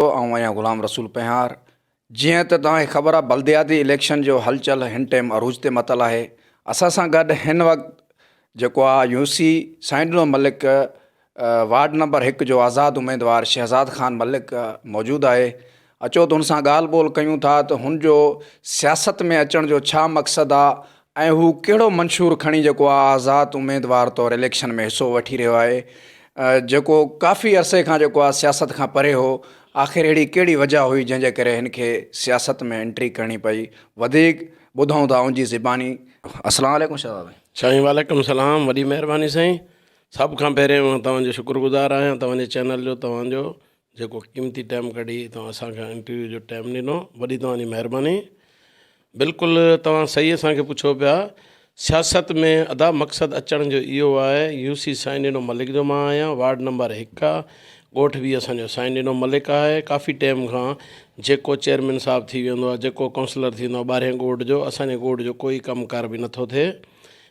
ھو آئون آھيان غلام رسول پنھار، جيئن ته توھان کي خبر آھي بلدياتي اليڪشن جو ھلچل ھن ٽيم عروج تي متل آھي، اسان سان گڏ ھن وقت جيڪو آ U C Sain Dino Malik ward number ھڪ جو آزاد اميدوار شھزاد خان ملڪ موجود آھي، اچو ته ھن سان ڳالھ ٻولھ ڪيون ٿا ته ھن جو سياست ۾ اچڻ جو ڇا مقصد آ ۽ هو ڪهڙو منشور کڻي جيڪو آزاد اميدوار طور اليڪشن ۾ حصو وٺي رهيو آهي جيڪو ڪافي عرصي کان جيڪو آهي سياست کان پري هو آخر اهڙي ڪهڙي وجه هئي جنهن جي ڪري هن کي سياست ۾ انٽري ڪرڻي پئي وڌيڪ ٻڌون ٿا ان جي زباني اسلام عليڪم شهزاد ڀائي سائين وعليڪم السلام وڏي مهرباني سائين سڀ کان پهرين توهان جو شڪر گذار آهيان توهان جي چينل جو توهان جو جيڪو قيمتي ٽيم ڪڍي توهان اسان کي انٽرويو جو ٽيم ڏنو وڏي توهان جي مهرباني بلڪل توهان صحيح اسان کي پڇو پيا سياست ۾ ادا مقصد اچڻ جو اهو آهي يو سي سائين ڏنو ملڪ جو مان آهيان وارڊ نمبر هڪ آ ڳوٺ وي اسان جو سائين ڏنو ملڪ آهي ڪافي ٽيم کان جيڪو چيئرمين صاحب ٿي ويندو آهي جيڪو ڪونسلر ٿيندو آهي ٻارهين ڳوٺ جو اسان جي ڳوٺ جو ڪوئي ڪم ڪار به نٿو ٿئي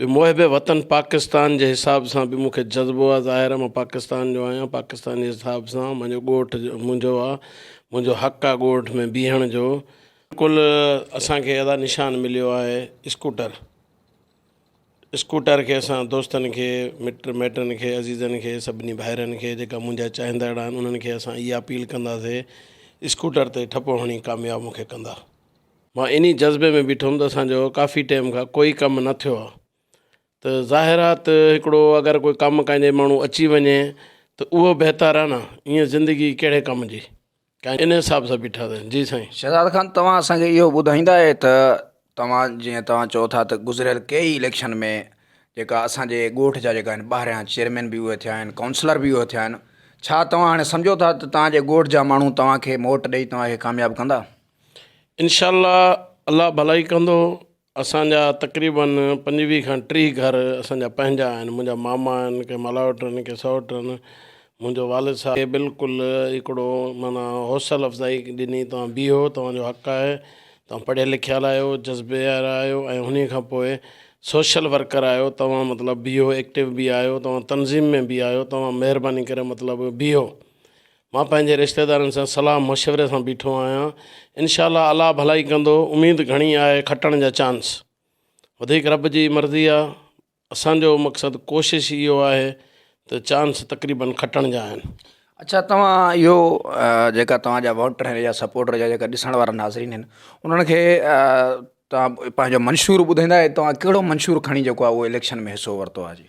به محب وطن پاڪستان جي حساب سان به مون کي جذبو آ ظاهر مان پاڪستان جو آهيان پاڪستان جي حساب سان مانجو ڳوٺ منهنجو آ منهنجو حق آ ڳوٺ ۾ بيهڻ جو بلڪل اسان کي ادا نشان مليو آهي اسڪوٽر اسڪوٽر کي اسان دوستن کي مٽ مائٽن کي عزيزن کي سڀني ڀائرن کي جيڪا منهنجا چاهندڙ آهن انهن کي اسان اها اپيل ڪنداسي اسڪوٽر تي ٺپو هڻي ڪامياب مون کي ڪندا. مان انهي جذبي ۾ بيٺو هوم ته اسان جو ڪافي ٽيم کان ڪوئي ڪم نه ٿيو آ ته ظاهر آ ته هڪڙو اگر ڪوئي ڪم ڪنهن جي ماڻهو اچي وڃي ته اهو بهتر آ نه ائين زندگي ڪهڙي ڪم جي ڪا انهي حساب سان بيٺا سين جي سائين. شهزاد خان توهان اسان کي اهو ٻڌائيندا اهي ته توهان جيئن توهان چئو ٿا ته گذريل ڪيئي اليڪشن ۾ جيڪا اسان جي ڳوٺ جا جيڪا آهن ٻاهريان چيئرمين به اهي ٿيا آهن ڪائونسلر به اهي ٿيا آهن ڇا توهان هاڻي سمجهو ٿا ته توهان جي ڳوٺ جا ماڻهو توهان کي موٽ ڏئي توهان کي ڪامياب ڪندا؟ انشاء الله الله ڀلائي ڪندو اسان جا تقريبن پنجويهه کان ٽيهه گهر اسان جا پنهنجا آهن منهنجا ماما آهن ڪي ملاوٽ آهن ڪي سئوٽ آهن منهنجو والد صاحب کي بلڪل هڪڙو معنيٰ حوصل افزائي ڏني توهان بيهو توهان جو حق آهي توهان پڙهيل لکيل آهيو جذبي وارا آهيو ۽ انهي کان پوء سوشل ورڪر آهيو توهان مطلب بيهو ايڪٽو به آهيو توهان تنظيم ۾ به آهيو توهان مهرباني ڪري مطلب بيهو مان پنهنجي رشتيدارن سان صلاح مشوري سان بيٺو آهيان انشاء الله الله ڀلائي ڪندو اميد گهڻي آهي کٽڻ جا چانس وڌيڪ رب جي مرضي آهي اسان جو مقصد ڪوشش ئي اهو آهي ته چانس تقريبن کٽڻ جا آهن اچھا توهان اهو جيڪا توهان جا ووٽر آهن يا سپورٽر يا جيڪا ڏسڻ وارا ناظرين آهن انهن کي توهان پنهنجو منشور ٻڌائيندا توهان ڪهڙو منشور کڻي جيڪو آهي اهو اليڪشن ۾ حصو ورتو آهي جي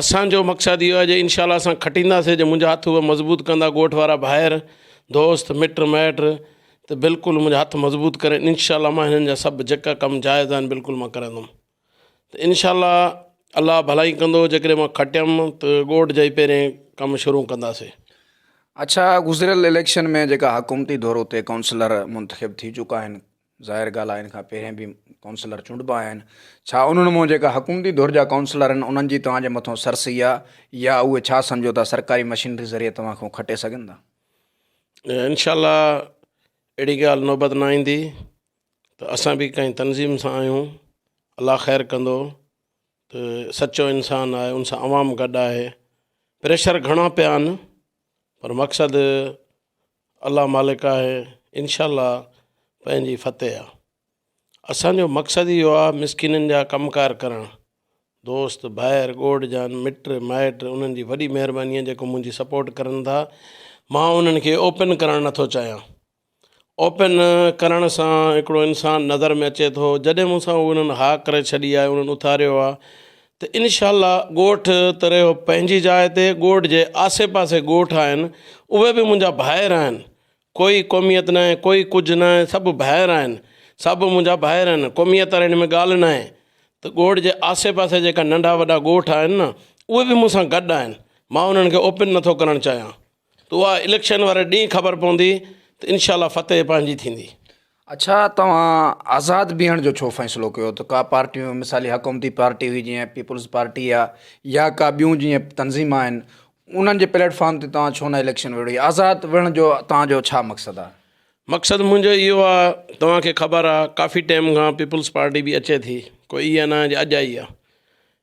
اسان جو مقصد اهو آهي جو انشاء الله اسان کٽينداسين جو منهنجا هٿ اهي مضبوط ڪندا ڳوٺ وارا ڀائر دوست مٽ مائٽ ته بلڪل منهنجا هٿ مضبوط ڪرين انشاء الله مان هنن جا سڀ جيڪا ڪم جائز آهن بلڪل مان ڪرندم ته انشاء الله الله ڀلائي ڪندو جيڪڏهن مان کٽيم ته ڳوٺ جا ئي پهرين ڪم شروع ڪنداسين اڇا گذريل اليڪشن ۾ جيڪا حڪومتي دورو تي ڪائونسلر منتخب ٿي چڪا آهن ظاهر ڳالهه آهي ان کان پهرين به ڪائونسلر چونڊبا آهن ڇا انهن مان جيڪا حڪومتي ڌر جا ڪائونسلر آهن انهن جي توهان جي مٿو سر سهي آهي يا اهي ڇا سمجهو ٿا سرڪاري مشينري ذريعي توهان کان کٽي سگهن ٿا؟ انشاء الله اهڙي ڳالهه نوبت نه ايندي ته اسان به ڪنهن تنظيم سان آهيون الله خير ڪندو ته سچو انسان آهي ان سان عوام گڏ آهي پريشر گهڻا پيا آهن پر مقصد الله مالڪ آهي انشاء الله پنهنجي فتح آ اسان جو مقصد اهو آ مسڪينن جا ڪم ڪار ڪرڻ دوست ڀائر ڳوڙ جان مٽ مائٽ انهن جي وڏي مهرباني آ جيڪو منهنجي سپورٽ ڪرن ٿا مان انهن کي اوپن ڪرڻ نه ٿو چاهيان اوپن ڪرڻ سان هڪڙو انسان نظر ۾ اچي ٿو جڏهن مون سان انهن ها ڪري ڇڏي آ انهن اٿاريو آ ته انشاء الله ڳوٺ ته رهيو پنهنجي جاء تي ڳوٺ جي آسي پاسي ڳوٺ آهن اهي به منهنجا ڀائر آهن ڪوئي قوميت ناهي ڪوئي ڪجهه ناهي سڀ ڀائر آهن سڀ منهنجا ڀائر آهن قوميت واري هن ۾ ڳالهه ناهي ته ڳوٺ جي آسي پاسي جيڪا ننڍا وڏا ڳوٺ آهن نه اهي به مون سان گڏ آهن مان انهن کي اوپن نٿو ڪرڻ چاهيان ته اها اليڪشن واري ڏينهن خبر پوندي ته انشاء الله فتح پنهنجي ٿيندي. اڇا توهان آزاد بيهڻ جو ڇو فيصلو ڪيو ته ڪا پارٽيون مثالي حڪومتي پارٽي هئي جيئن پيپلز پارٽي آ يا ڪا ٻيون جيئن تنظيم آهن انهن جي پليٽ فارم تي توهان ڇو نه اليڪشن وڙهي آزاد وڙهڻ جو توهان جو ڇا مقصد آ. مقصد منهنجو اهو آ توهان کي خبر آ ڪافي ٽيم کان پيپلز پارٽي به اچي ٿي ڪو اها نه آ جي اڄ آئي آ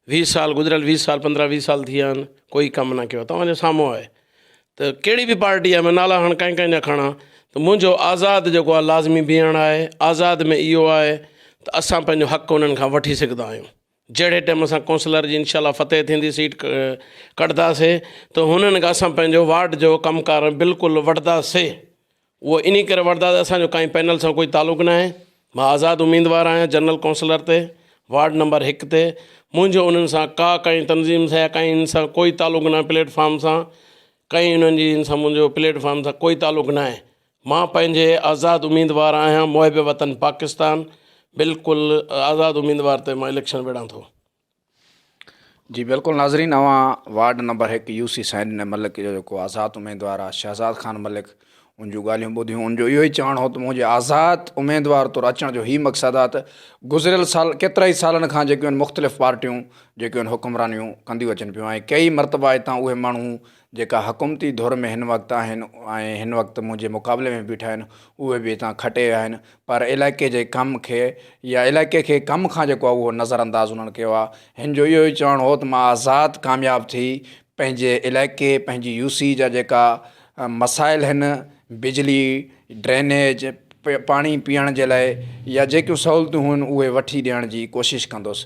ويهه سال گذريل ويهه سال پندرهن ويهه سال ٿي ويا آهن ڪوئي ڪم نه ڪيو توهان جي سامهون آهي ته ڪهڙي به پارٽي آهي مان نالا هاڻ ڪنهن ڪنهن جا کڻا ته منهنجو آزاد جيڪو آهي لازمي بيهڻ آهي آزاد ۾ اهو آهي ته اسان پنهنجو حق انهن کان وٺي سگهندا آهيون جهڙي ٽائيم اسان ڪونسلر جي انشاء الله فتح ٿيندي سيٽ ڪڍنداسي ته هنن کان اسان پنهنجو وارڊ جو ڪم ڪار بلڪل وٺنداسي اهو انهي ڪري وڻدا ته اسان جو ڪنهن پينل سان ڪوئي تعلق ناهي، مان آزاد اميدوار آهيان جنرل ڪونسلر تي، وارڊ نمبر هڪ تي، منهنجو انهن سان ڪا ڪنهن تنظيم سان يا ڪنهن ان سان ڪوئي تعلق ناهي پليٽ فارم سان ڪنهن انهن جي ان سان منهنجو پليٽ فارم سان ڪوئي تعلق ناهي مان پنهنجي آزاد اميدوار آهيان محب وطن پاڪستان بلڪل آزاد اميدوار تي مان اليڪشن وڙهان ٿو. جي بلڪل ناظرين اوهان وارڊ نمبر هڪ يو سي سائن ڊني ملڪ جو جيڪو آزاد اميدوار آ شهزاد خان ملڪ ان جون ڳالهيون ٻڌيون ان جو اهو ئي چوڻ هو ته منهنجي آزاد اميدوار طور اچڻ جو هي مقصد آ ته گذريل سال ڪيترا ئي سالن کان جيڪيون مختلف پارٽيون جيڪيون حڪمرانيون ڪنديون اچن پيون ۽ ڪيئي مرتبا هتان اهي ماڻهو جيڪا حڪومتي ڌر ۾ هن وقت آهن ۽ هن وقت منهنجي مقابلي ۾ بيٺا آهن اهي به هتان کٽي ويا آهن پر علائقي جي ڪم کي يا علائقي کي ڪم کان جيڪو آهي اهو نظر انداز انهن ڪيو آهي هن جو اهو ئي چوڻ هو ته مان آزاد ڪامياب ٿي پنهنجي علائقي پنهنجي يو سي جا جيڪا مسائل آهن بجلي ڊرينيج پاڻي پيئڻ جي لاء يا جيڪيون سهولتون هن اهي وٺي ڏيڻ جي ڪوشش ڪندس